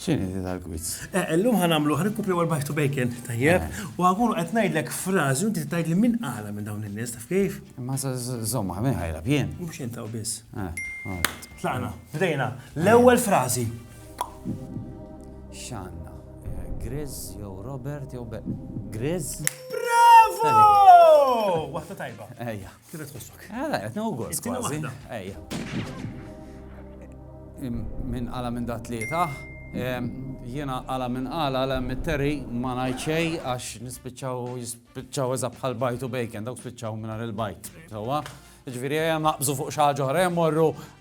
X'inhi din tal-quiz? Eh, illum ħa nagħmluh rikupju għal back to bacon, tajjeb? Eh. U għakun qed ngħidlek frażi u inti tgħidli min qala minn dawn in-nies, taf kif? Ma żomma, min ħajla bjien? Mhux intaw biss. Eh, Tlaqna, bdejna. L-ewwel frażi. X'għandna? Grizz jew Robert jew Grizz? Bravo! Waħda tajba. Ejja. Kif qed tħossok? Ah, la, qed nieħu gost It-tieni kważi. waħda. Ejja. Im- Minn qala minn dat tlieta. em, Jiena qala minn qala għala mit-terri ma ngħid xejn għax nispiċċaw jispiċċaw eża bħal bajt u bacon dawk spiċċaw mingħajr il-bajt. Sewwa. Ġifieri ejja naqbżu fuq xi ħaġa oħra ejja morru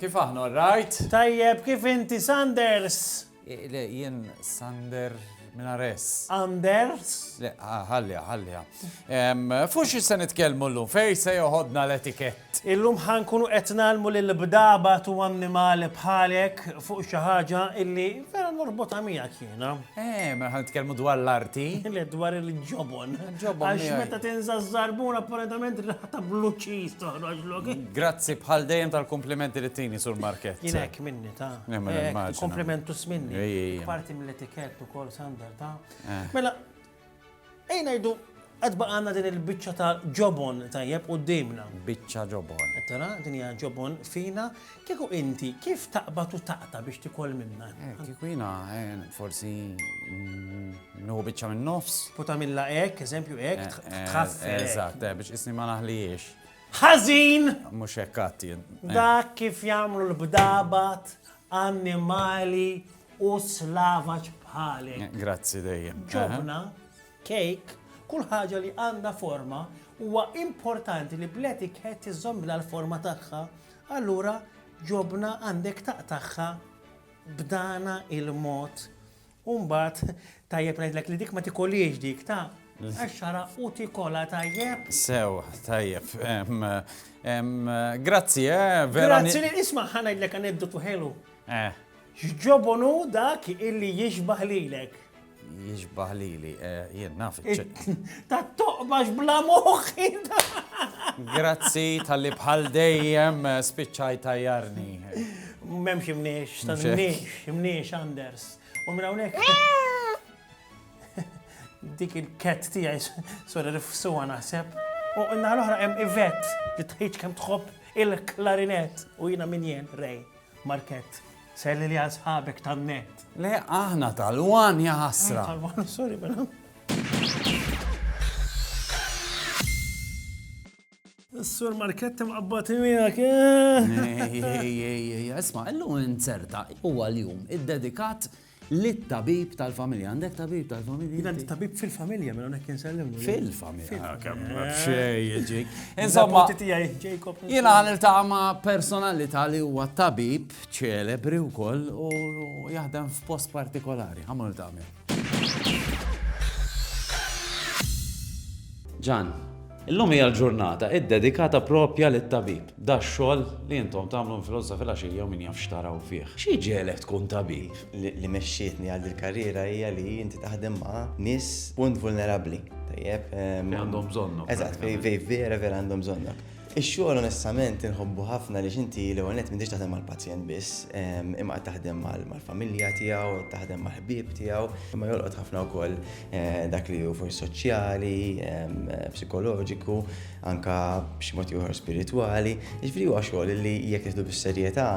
Kif aħna alright? Tajjeb, kif inti Sanders? Le, jien Sander Minares. Anders? Le, ħallja, ħallja. Fuq xi se nitkellmu llum, fej se joħodna l-etikett? Illum ħankunu qed nagħlmu lil bdaba tu annimali bħalek fuq xi ħaġa illi vera norbotha miegħek jiena. Eh, mela ħan nitkellmu dwar l-arti. Le dwar il-ġobon. Ġobon. Għax meta tinża żarbun apparentament raħta blu ċiż toħroġ lok. Grazzi bħal dejjem tal-komplimenti li tini sur market. Jien hekk minni ta'. Komplimentu sminni. Parti mill-etikett ukoll sander ta'. Eh. Mela Ejja ngħidu qed baqa' għandna din il-biċċa ta' ġobon tajjeb quddiemna. Biċċa ġobon. Qed tara, din hija ġobon fina. Kieku inti kif taqbad u taqta' biex tikol minnha? Eh, kieku jiena eh, forsi nieħu biċċa minn nofs. U tagħmilha hekk, eżempju hekk, eh, tħaffel. Eżatt, biex isni ma naħlijiex. Ħażin! Mhux hekk għattien. Dak kif jagħmlu l-bdabat, annimali, u slavaġ bħalek. Grazzi dejjem. Ġobna, kejk, kull ħaġa li għandha forma huwa importanti li bl-etiket tiżommilha l-forma tagħha, allura ġobna għandek taqtaħħa b'dana il-mod. Umbat, tajjeb ngħidlek li dik ma tikoliex dik ta' għaxxara u tikola tajjeb. Sew, tajjeb. Grazzi, eh, vera. Grazzi li nisma' ħanajdlek aneddotu ħelu. Eh. X'ġobon hu dak illi jixbah lilek? Jixbah lili, eh, jien naf Ta' toqbax bla moħħi. Grazzi tal-li bħal dejjem eh, spiċċaj tajjarni. Memx imniex, ta' imniex, imniex, Anders. U minn hawnhekk. Dik il-ket tiegħi sura rifsuha naħseb. U n-naħa l-oħra hemm Ivet li tħiġ kemm tħobb il-klarinett u jiena min jien rej. Markett, Selli li għal sħabek tan-nett. Le aħna tal-wan ja ħasra. Tal-wan, sorry mela. Is-sur Markett imqabbad miegħek. Isma, illum inzerta huwa l-jum iddedikat Lit-tabib tal-familja. Għandek tabib tal-familja? Jien għandi tabib fil-familja, mela nek jinsellimlu. Fil-familja. Ah, kemm xej jiġik. Insomma, jien għan il-taqa ma' personalità li huwa tabib ċelebri u koll u jaħdem f'post partikolari. Għamlu il-taqa Ġan, Illum hija l-ġurnata iddedikata proprja lit-tabib, dax-xogħol li intom tagħmlu minn filgħodu sa filgħaxija u min jaf x'taraw fih. Xi ġegħlek tkun tabib? Li mexxietni għal dil-karriera hija li inti taħdem ma' nies punt vulnerabbli, tajjeb? Li għandhom bżonnok. Eżatt, li vera vera għandhom bżonnok. Ix-xogħol onestament inħobbu ħafna għaliex inti l-ewwel nett m'intix taħdem mal-pazjent biss, imma qed taħdem mal-familja tiegħu, qed taħdem mal-ħbieb tiegħu, imma jolqot ħafna wkoll dak li hu forsi soċjali, psikoloġiku, anka b'xi mod ieħor spiritwali. Jiġifieri huwa xogħol li jekk nieħdu bis-serjetà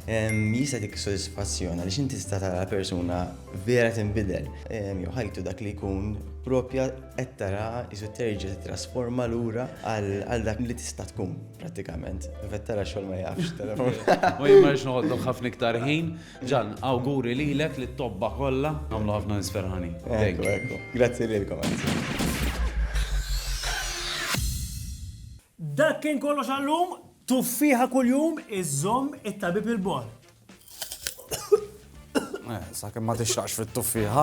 jista' dik sodisfazzjon għaliex inti tista' tara persuna vera tinbidel. Jew ħajtu dak li jkun proprja qed tara isu terġa' tittrasforma lura għal dak li tista' tkun prattikament. Qed tara x-xogħol ma jafx. U jien ma rridx noqgħodlok ħafna iktar ħin. Ġann, awguri lilek, lit-tobba kollha. Nagħmlu ħafna nies ferħanin. Ekku, ekku. Grazzi lilkom. Dak kien kollox għallum, tuffiħa kuljum iżżomm it-tabib il-bor. Eh, sa kemm ma tixraqx fit-tuffiħa.